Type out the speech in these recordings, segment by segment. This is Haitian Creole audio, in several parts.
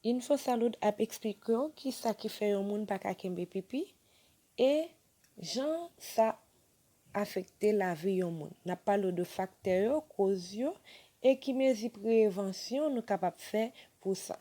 Infosalud ap eksplike w ki sa ki fè yon moun pa ka kenbe pipi e jan sa afekte lavi yon moun. N ap pale w de faktè yo, koz yo e ki mezi prevansyon nou kapab fè pou sa.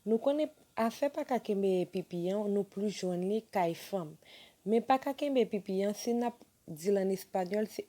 Nou konnen afè pa ka kenbe pipi an nou plis jwenn li kay fanm. Men pa ka kenbe pipi an si n ap di l an espanyòl se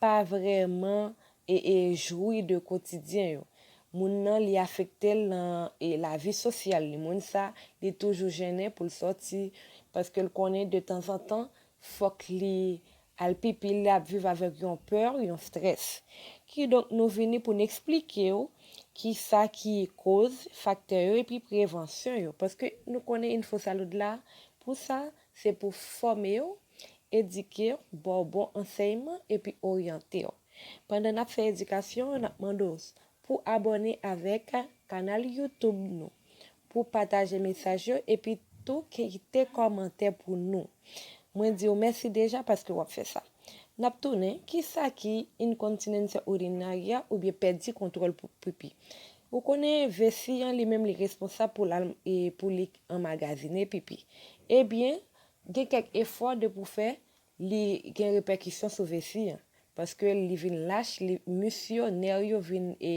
pa vrèman e e jwi de kotidyen yo moun nan li afektel nan e lavi sosyal li moun sa li toujou jennen poul sòti paskel konnen de tanzantan fòk li al pipi li ap viv avèk yon pè yon strès kidonk nou vini poun eksplikew kisa ki koz faktè yo epi prevansyon yo paske nou konnen info salud la pou sa. Se pou fòme w, edike w, ba w bon ansèyman epi oryante w. Pandan n ap fè edikasyon an, n ap mande w pou w abòne avèk kanal YouTube nou, pou w pataje mesaj yo epi tou kite kòmantè pou nou. Mwen di w mèsi deja paske w ap fè sa. N ap tounen, kisa ki inkontinense urinarya oubyen pèdi kontwòl pou pipi? Ou konnen vesi an li menm li responsab pou l al pou li Anmagazine pipi. Ebyen, gen kèk efò depi w fè li gen repèkisyon sou vesi an. Paske li vin lach, li mis yo, nè yo vin e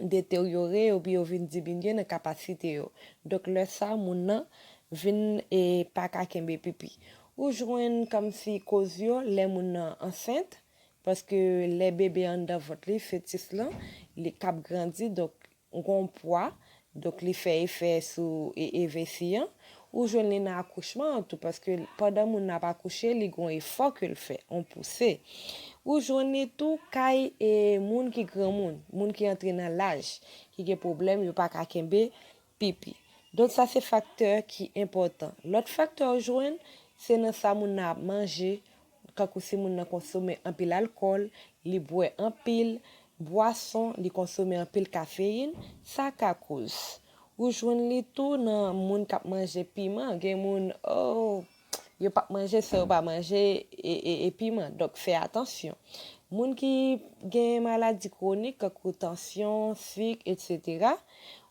deteryore oubyen yo vin diminye nan kapasite yo. Donk lè sa moun nan vin e pa ka kenbe pipi. Ou jwenn kòmsi koz yo lè moun nan ansent, paske lè bebe anndan vant li, fetis lan, li k ap grandi donk Ou gen yon pwa, donk li fè efè sou vesi an. Ou jwenn li nan akouchman an tou, paske pandan moun nan ap akouche, li gen yon efò ke l fè, yon pouse. Ou jwenn li tou kay moun ki granmoun, moun ki antre nan laj, ki gen pwoblèm, yo pa ka kenbe pipi. Donk sa se faktè ki enpòtan. Lòt faktè ou jwenn, se nan sa moun nan ap manje, Kankou si moun nan konsome anpil alkòl, li bwè anpil bwason, li konsome anpil kafeyin, sa ka koz. Ou jwenn li tou nan moun k ap manje piman. Gen moun oo, yo p ap manje san yo pa manje e piman. Donk fè atansyon. Moun ki gen maladi kwonik kankou tansyon, sik, etsetera,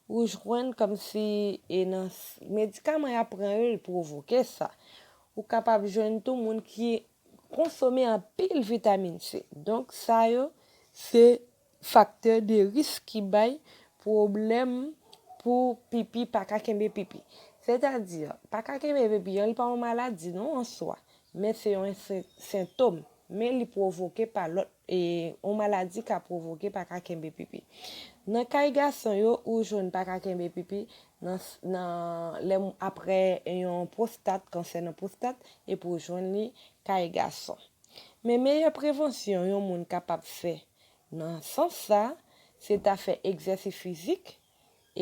ou jwenn kòmsi e nan medikaman y ap pran yo li pwovoke sa. Ou kapab jwenn tou moun ki konsome anpil vitamin C. Donk sa yo se faktè de risk ki bay pwoblèm pou pipi pa ka kenbe pipi. Sètadi, pa ka kenbe pipi an li pa yon maladi non an swa, men se yon sentom, men li pwovoke pa lòt, yon maladi ka pwovoke pa ka kenbe pipi. Nan kay gason yo ou jwenn pa ka kenbe pipi, nan nan lè aprè yon pwostat kansè nan pwostat epi ou jwenn li kay gason men meyè prevansyon yon moun kapab fè nan sans sa se ta fè egzèsi fizik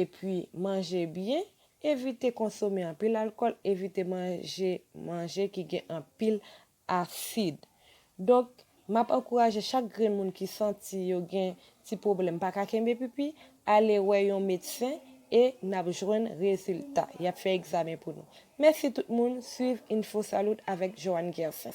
epi manje byen evite konsome anpil alkòl evite manje manje ki gen anpil asid. Donk, m ap ankouraje chak grenn moun ki santi yo gen ti pwoblèm pa ka kenbe pipi, ale wè yon medsen e n ap jwenn rezilta. Y ap fè egzamen pou nou. Mèsi tout moun, swiv Infosalud avèk Johanne Guercin.